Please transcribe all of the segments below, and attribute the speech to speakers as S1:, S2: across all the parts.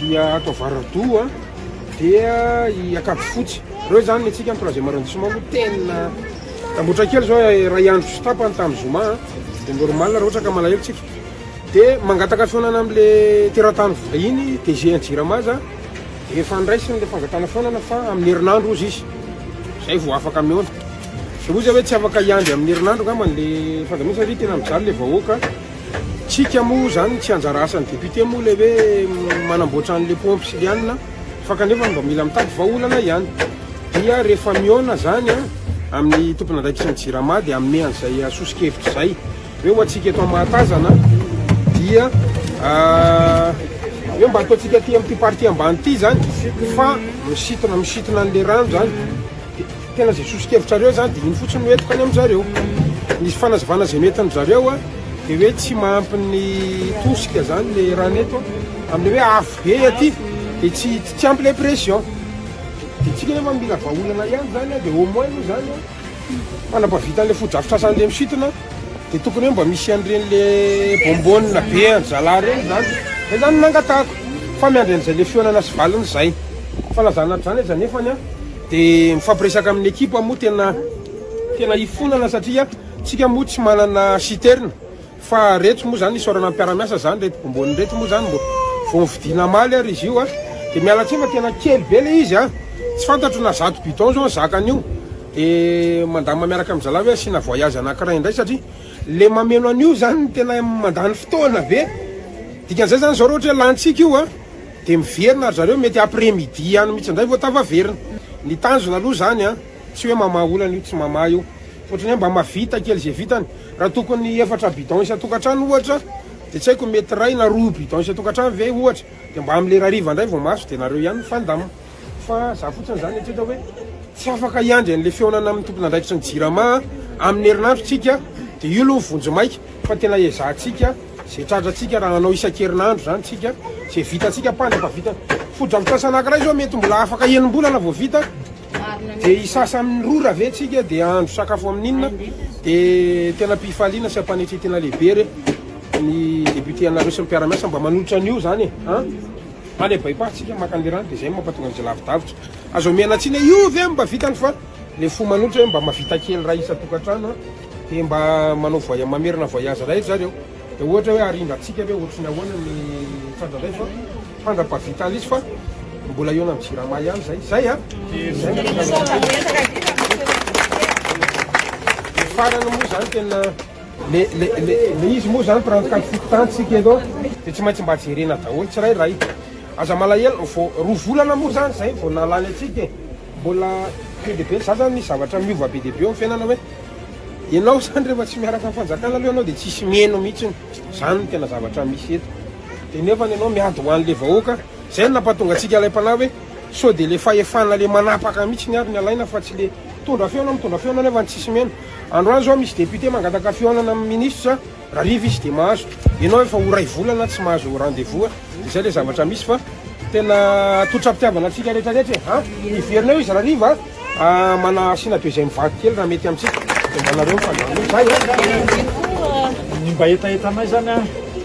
S1: dia ato Avaradoha dia i Ankavifotsy reo zany ny tsika ny troisième arrondissement no tena tambotra kely zao iray eh, andro sy tapany tamin'ny zoma ah. dia normal raha ohatra ka malahelo tsika dia mangataka fihaonana amle teratany vahiny DG Jirama za dia efa andraisiny le fangatana fihaonana fa amin'ny herinandro ozy izy zay vao afaka mihaona ozy hoe tsy afaka hiandry amin'ny herinandro angambany le fandaminana satria tena mijaly le vahoaka Tsika moa zany tsy anjara asany député moa le hoe manamboatra anle pompe sy lianina fa kanefa mba mila mitady vahaolana ihany dia rehefa mihaona zany a amin'ny tomponandraikitrin'ny jirama dia hanome an'izay sosokevitra izay hoe ho antsika eto mahatazana dia hoe mba ataontsika aty amin'ity partie ambany ity zany fa misitona misitona an'le rano zany Tena izay soso-kevitrareo izany dia iny fotsiny no entiko any amin-dry zareo. Ny fanazavana izay noentin-dry zareo dia hoe tsy mahampy ny tosika izany ilay rano eto amin'ilay hoe avo be aty dia tsy tsy ampy ilay pression. Dia isika nefa mila vahaolana ihany izany dia au moins moa izany fa nampavitan'ilay fotodrafitrasan'ilay misintona dia tokony hoe mba misy an'ireny ilay bonbonne be an-dry zalahy ireny izany. Izay izany no nangatahako fa miandry an'izay ilay fihaonana sy valiny izay. Fanazana hatr'izany aza nefany an! Dia mifampiresaka amin'ny ekipa moa tena tena ifonana satria tsika moa tsy manana citerne fa reto moa zany isaorana mpiaramiasa zany reto bombony reto moa zany mbo vao nividiana maly ary izy io a dia miala tsiny fa tena kely be le izy a tsy fantatro na zato bidon zao ny zakany io dia mandama miaraka amin'ny zalahy hoe asiana voyage anakiray indray satria le mameno an'io zany tena mandany fotoana be dikan'izay zany zao raha ohatra hoe lantsika io a Dia miverina ry zareo, mety après midi ihany mihitsy indray vao tafaverina. Ny tanjona aloha izany an, tsy hoe mamaha olana io, tsy mamaha io, fa ohatran'ny hoe mba mahavita kely izay vitany. Raha tokony efatra bidon isan-tokantrano ohatra, dia tsy haiko mety iray na roa bidon isan-tokantrano ve ohatra, dia mba amin'ny lera hariva indray vao mahazo, dia nareo ihany mifandamina. Fa za fotsiny zany eritrereto hoe tsy afaka hiandry an'le fihaonana amin'ny tompon'andraikitry ny Jirama amin'ny herinandro tsika de io aloha vonjy maika fa tena ezahantsika ze tratrantsika raha hanao isan-kerinandro zany tsika ze vitantsika panja fa vita fotodrafitrasa anakiray zao mety mbola afaka enim-bolana vao vita de isasa amin'ny rora ve tsika de andro sakafo amin'inona de tena pifaliana sy ampanetry tena lehibe re ny député anareo sy ny mpiara-miasa mba manolotra an'io zany e Any a Baipa tsika maka anle rano de zay mapatonga anze lavidavitra. Aza omena tsiny hoe io ve mba vitany fa le fo manohitra hoe mba mavita kely ra isa tokatrano a de mba manao voya mamerina voyage ray ry zareo de ohatra hoe arindra tsika ve otriny ahoana ny tratra zay fa fandra pavita anle izy fa mbola eo nam jirama ihany zay zay a zay farany moa zany tena. Le le le le izy moa zany mpirano kajy fito tany tsika eto de tsy maintsy mba jerena daholo tsirairay aza malahelo vao roa volana moa zany zay vao nalany atsika e mbola be de be za zany misy zavatra miova be de be eo fiainana hoe ianao zany rehefa tsy miaraka amin'ny fanjakana aloha ianao de tsisy mieno mihitsiny zany no tena zavatra misy eto de nefa ianao miady ho an'le vahoaka zay no nampatonga antsika ilay mpanahy hoe sao de le fahefana le manapaka mihitsiny ary ny alaina fa tsy le Mitondra fihaonana mitondra fihaonana nefa tsisy mena. Androany zao misy député mangataka fihaonana amin'ny ministre rariva izy dia mahazo. Ianao efa ho ray volana tsy mahazo rendez-vous a! Dia zay le zavatra misy fa tena totram-pitiavana antsika rehetra rehetra e! a! Hiverina eo izy rariva a! Mana asiana deuxième vague kely raha mety amintsika. Dia mba nareo mifandamina eo. Zay e!
S2: Ny mba hetahetanay zany a!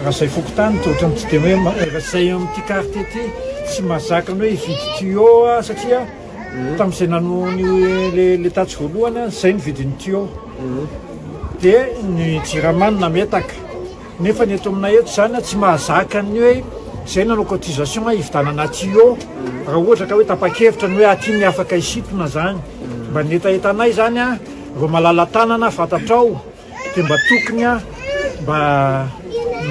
S2: Raha izay fokontany dia ohatran'ny tsy dia hoe, raha izay amin'ity quartier ity tsy mahazaka ny hoe hividy tuyau a! Satria. Tamin'izay nanoa ny le tatsy voalohany aho, izay ny vidin'ny tuyau. Dia ny jirama no nametaka. Nefa ny eto aminay eto izany tsy mahazaka ny hoe izay nanao cotisation hividanana tuyau. Raha ohatra ka hoe tapa-kevitra ny hoe aty ny afaka hisintona izany. Mba ny hetahetanay izany an, ireo malala-tanana fantatrao. Dia mba tokony a, mba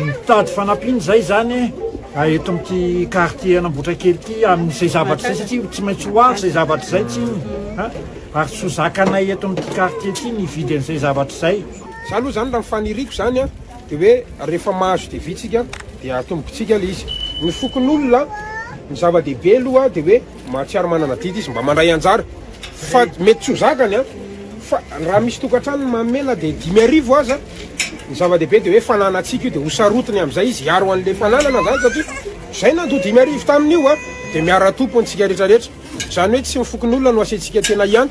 S2: mitady fanampiana izay zany a, eto amin'ity quartier an'Ambotrakely ity amin'izay zavatra izay satria tsy maintsy ho avy izay zavatra izay tsinona a, ary tsy ho zakanay eto amin'ity quartier ity ny hividy an'izay zavatra izay. Za aloha zany raha ny
S1: faniriako zany a, dia hoe rehefa mahazo devis-tsika dia atombontsika ilay izy. Ny fokonolona, ny zava-dehibe aloha dia hoe. Mahatsiaro manana adidy izy mba mandray anjara fa mety tsy ho zakany an! fa raha misy tokantrano mamela dia dimy arivo aza, ny zava-dehibe dia hoe fananantsika io dia ho sarotiny amin'izay izy hiaro an'ilay fananana izany satria izay nandoa dimy arivo tamin'io an! dia miara-tompo antsika rehetra rehetra izany hoe tsy ny fokonolona no asiantsika tena ihany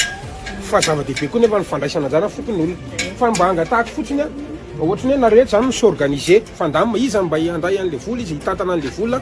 S1: fa zava-dehibe koa nefa ny fandraisana anjara ny fokonolona fa mba angatahako fotsiny an! ohatran'ny hoe nareo rehetra izany mi s'organiser fa ndamba iza no mba handray an'ilay vola izy hitantana an'ilay vola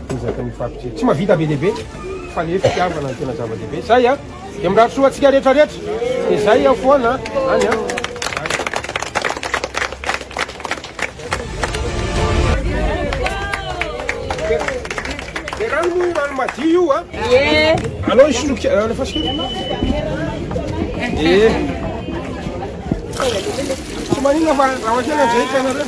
S1: Ezaka ny fapitre. Tsy mahavita be dia be fa le fitiavana no tena zava-dehibe. Zay a! Dia mirary soa antsika rehetra rehetra. Dia zay aho foana any a! Dia rano moa rano madio io a! Alao hisoloky alefa sika. Dia tsy manina fa raha kely anjehitra ianareo.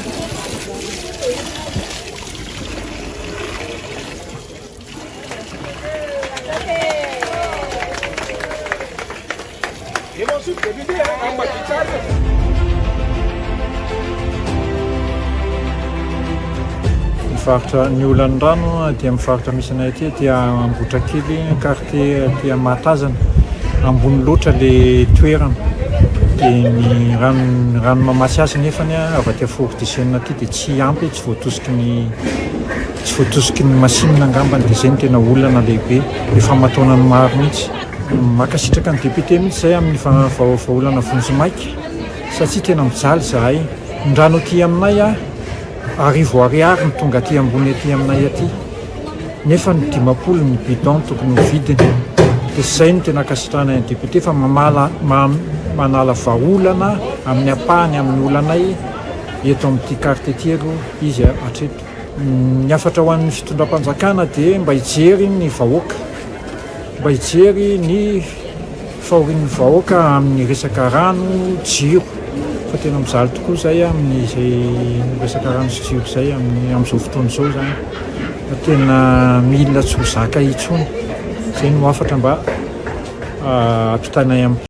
S2: Mivarotra ny olan'ny rano aty amin'ny faritra misy anay aty, aty Ambohitrakely, quartier aty Mahatazana. Ambony loatra ilay toerana. Dia ny rano, ny rano mahamasiasy nefany avy aty Fort du Chêne aty dia tsy Tsy ampy hoe tsy voatosiky ny tsy voatosiky ny masinina angambany dia izay no tena olana lehibe, ny famataonany maro mihitsy. Mankasitraka ny député mihitsy izahay amin'ny vahaolana vonjimaika satria tena mijaly izahay. Ny rano aty aminay arivo ariary no tonga aty ambony aty aminay aty nefa ny dimampolo ny bidon tokony ho vidiny dia izay no tena ankasitrahanay ny député fa mamala manala vahaolana amin'ny ampahany amin'ny olanay. eto amin'ity carte ity aloha izy hatreto. Ny hafatra ho an'ny fitondram-panjakana dia mba hijery ny vahoaka, mba hijery ny fahorian'ny vahoaka amin'ny resaka rano, jiro fa tena mijaly tokoa izay amin'izay resaka rano sy jiro izay amin'ny amin'izao fotoana izao izany fa tena mila tsy ho zaka intsony, izay no hafatra mba hampitanay amin'ny.